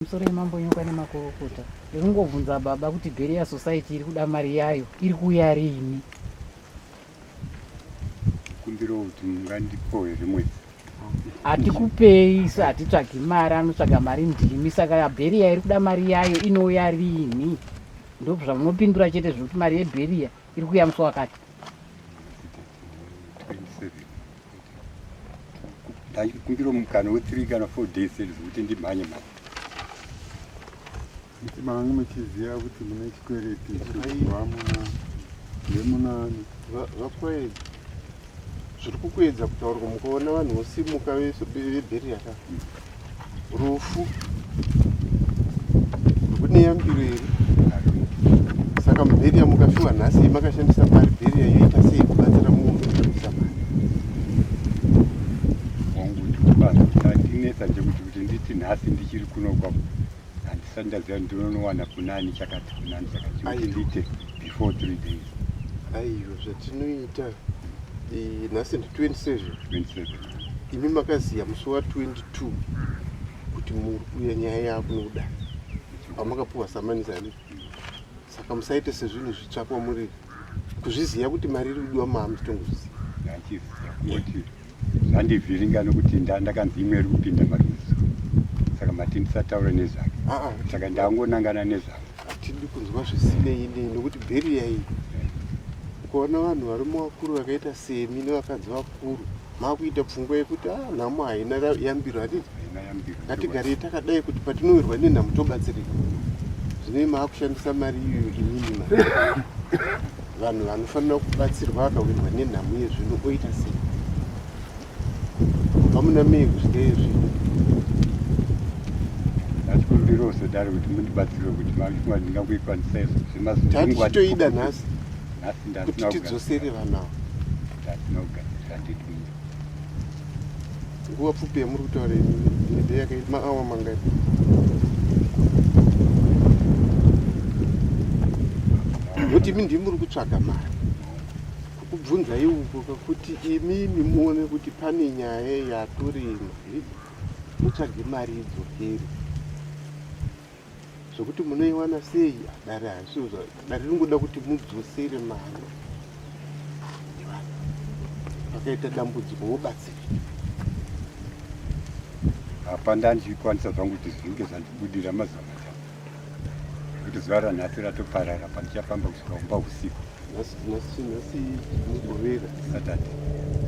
musoro yemambonyoka nemakorokota ndinongobvunza baba kuti bheri ya society iri kuda mari yayo iri kuuya riini kumbira kuti mungandipowe rimwe hatikupei sa hatitsvagi mari anotsvaga mari ndimi saka yabheriya iri kuda mari yayo inouya rini ndobva zvamunopindura chete zvekuti mari yebheriya iri kuya musi wakati ndaikumbira mukana wethree kana four days zvekuti ndimhanye mari Kuti mangu muchiziva kuti mune chikwereti chevamuna vemunani vakwedi zviri kukuedza kutaurwa mukaona vanhu vosimuka vebheri yaka rufu rwune yambiro here saka mubheri yamukafiwa nhasi makashandisa mari bheri yayoita sei kubatsira munhu kuisa mari wangu ndikubatinetsa chekuti kuti nditi nhasi ndichiri kuno kwako handisati ndaziva ndinonowana kunani chakati kunani chakati kuti ndiite before three days aiyo zvatinoita eh, nhasi ndi 27 27 imi makaziva musi wa 22 kuti muri kuya nyaya yakunoda pamakapuwa samanisa ne saka musaite sezvinhu zvitsvakwa muri kuzviziva kuti mari iri kudiwa maamutongozviziva zvandivhiringa nokuti ndandakanzi imwe iri kupinda marudzi saka mati ndisataure nezvake ah, ah, saka ndangonangana nezvake hatidi kunzwa zvisinei nei nokuti bheri yai ukaona vanhu vari muvakuru vakaita semi nevakanzi vakuru makuita pfungwa yekuti a ah, nhamo haina yambiro hatiti ngatigarei takadai kuti patinowirwa nenhamo tobatsirika zvinei maakushandisa mari iyoyo inini mari Vanhu vanofanira kubatsirwa vakawirwa nenhamo yezvinhu oita sei? Kubva muna mei kusvika izvi ndasikumbira usadaro kuti mundibatsire kuti vakuwa ndingakuikwanisa izvo zvemazutitoida nhasi kuti tidzosere vanavo ndasina kugadzira ndidii Nguva pfupi yamuri kutaura holiday yakaita maawa mangani? Kuti imi ndimi muri kutsvaga mari kubvunzai uko kakuti imimi muone kuti pane nyaya yatorimo mutsvage mari idzokere Zvekuti munoiwana sei dare hazvizvo dare ringoda kuti mudzosere mari pakaita dambudziko wobatsira apa ndandichikwanisa zvangu kuti zvinge zvandibudira mazuva matatu kuti zuva ranhasi ratoparara pandichafamba kusvika kumba usiku nhasi nhasi nhasi mugovera satata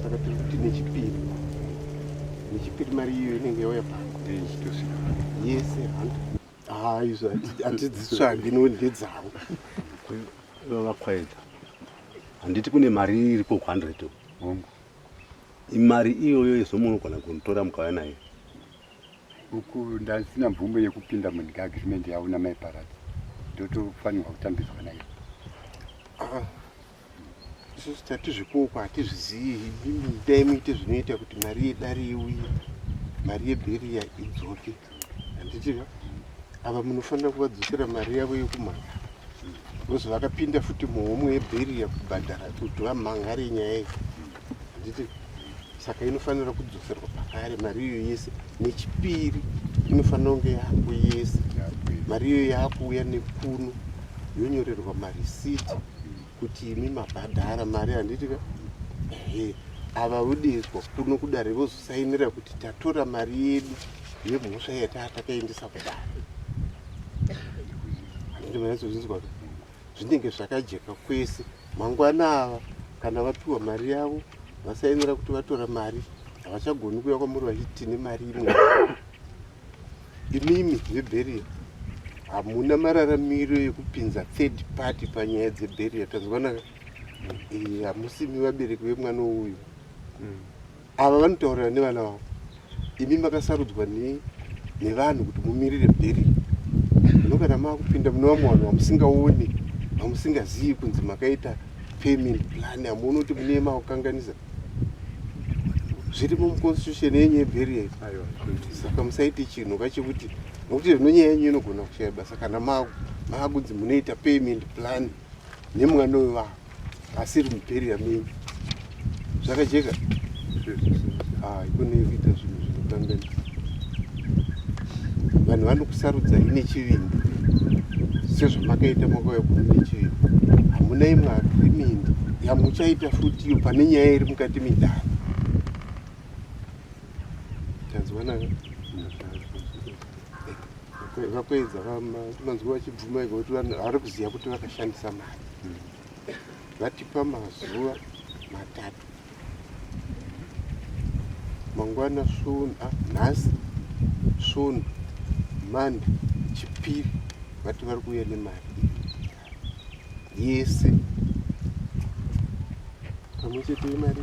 saka tiri kuti nechipiri nechipiri mari iyo inenge yauya pano ndeichitosvika yese handa haa izvo hatidzitsvagi no ndedzavo vakwaedza handiti kune mari iri ko 100 hongu imari iyoyo yezomunogona kunitora mukauya nayo uku ndasina mvumo yekupinda munyika agreement yavo namai paradzi ndotofanirwa kutambidzwa naye ah, isusu tatizvikuoko hatizvizivi dai muite zvinoita kuti mari yedare iuye mari yebheriya idzoke handitiva ava munofanira kuvadzosera mari yavo yekumhanga because vakapinda futi muhomwe yebheriya kubhadhara kuti vamhangare nyaya iyi handiti saka inofanira kudzoserwa pakare mari iyo yese nechipiri inofanira kunge yako yese mari iyo yakuuya nekuno yonyorerwa marisiti kuti imi mabhadhara mari handiti ka ehe ava vodezwa kuno kudare vozosainira kuti tatora mari yedu yemhosva yataa takaendesa kudare handiti manyatso zvinzwa zvinenge zvakajeka kwese Mangwana ava kana vapiwa mari yavo vasaemera kuti vatora mari havachagoni kuya kwamuri vachiti tine mari imwe imimi zvebheriya hamuna mararamiro yekupinza third party panyaya dzebheriya tanzwanaka eh, hamusimi vabereki vemwana uyu mm. Ava vanotaurira nevana vavo. Imi makasarudzwa ne nevanhu kuti mumirire bheri. Zvino kana makupinda mune vamwe vanhu vamusingaoni, vamusingazivi kunzi makaita payment plan hamuoni kuti mune makukanganisa zvirimo muconstitution yenyu yebheri yai saka musaiti chinhu ka chekuti nokuti zvino nyaya yenyu inogona kushaya basa kana makunzi munoita payment plan nemwana wevanhu asi iri muperi yamei zvakajeka ah, ikone kuita zvinhu zvinotambena vanhu vanokusarudza ine chivindi sezvamakaita makauya kuno nechivindi hamuna imwe agrimindi yamuchaita futi iyo pane nyaya iri mukati midhara tanzwanaka vakaedza vanzwa vachibvuma ega kuti vari kuziva kuti vakashandisa mari hmm. vatipa mazuva matatu mangwana sunu ah, nhasi sunu mande chipiri vati vari kuuya nemari yese pamwe chete yemari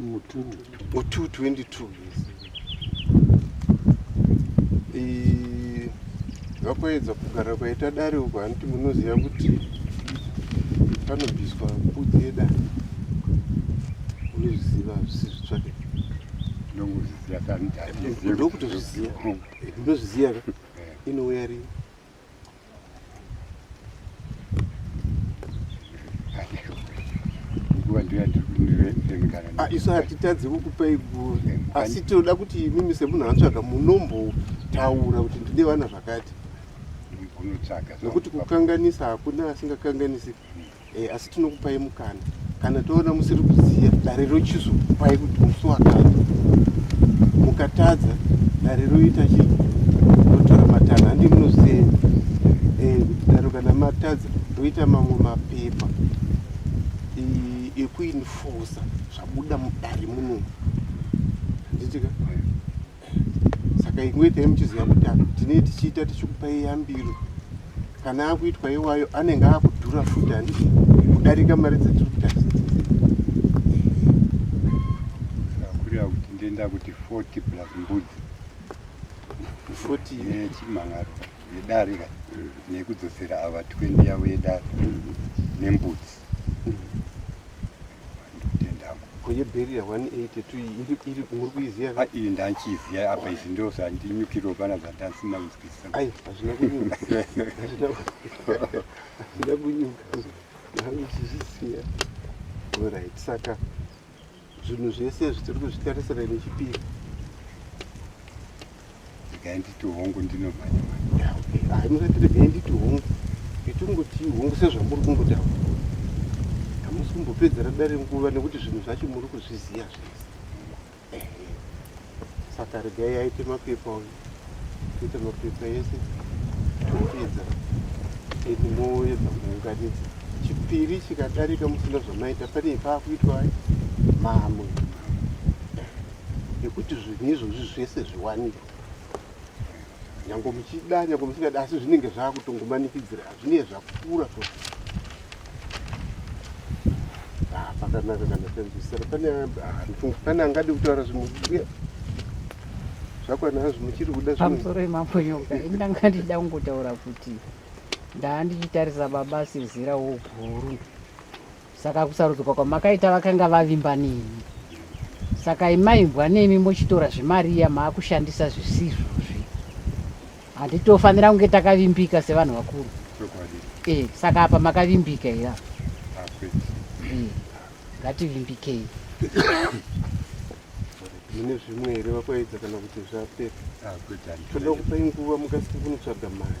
222 vakoedza kugara kwaita dare uko haniti munoziva kuti panobviswa mbudzi yedare unozviziva zvisi zvitsvake ndokutozviziva ndozviziva inouya rii Ah, isu hatitadzi kukupa iguru asi tinoda kuti imimi semunhu atsvaga munombotaura kuti ndine vana zvakati nekuti kukanganisa hakuna asingakanganisi Eh, asi tinokupai mukana kana toona musiri kuziva dare rochizokupai kuti musi wakati mukatadza dare roita chi rotora matanho handi munoziva eh, kuti daro kana matadza roita mamwe mapepa ekuinfosa zvabuda mudare muno handitika saka imwe itai muchiziva kuti tinee tichiita tichikupai yambiro kana akuitwa iwayo anenge akudhura futi handi kudarika mari dzetiri kutasa kureva kuti ndoenda kuti 40 plus mbudzi 40 yechimhangaro yedare ka nekudzosera ava 20 yavo yedare nembudzi kwenye bheriya 182 iri muri kuiziva ah, iri ndanchiziva apa izvi ndiro zvandinyukirwa pana zvandasinanzwisisa ai hazvina kunyuka hazvina kunyuka ndange ichizvisiya orit saka zvinhu zvese zvitiri kuzvitarisira nechipiri regai nditi hongu ndinomhanya mhanya musati regai nditi hongu itingoti hongu sezvamuri kungotaura hamusi kumbopedzera dare nguva nekuti zvinhu zvacho muri kuzviziva zvese saka regai aite mapepa uyu kuita mapepa ese topedza ende moedza kuunganidza chipiri chikadarika musina zvamaita pane paakuitwa mamwe yekuti zvinhu izvozvi zvese zviwanikwe nyange muchida nyange musingadi asi zvinenge zvaakutongomanikidzira zvinenge zvakura to ah, pakanaka kana tanzwisana ah, pane angadi kutaura zvimwe uye zvakwanazvo muchiri kuda pamusoro yemambo nyoka indanga ndida kungotaura kuti ndaa ndichitarisa baba sezera woguru Saka kusarudzwa kwamakaita vakanga vavimba nemi. Saka imaimbwa nemi mochitora zvemari iya maakushandisa zvisizvozvi. Handitofanira kunge takavimbika sevanhu vakuru. Eh, saka apa makavimbika here apa? Eh, ngativimbikei. mune zvimwe here vakwaedza kana kuti zvapera toda kupai nguva mukasike kunotsvaga mari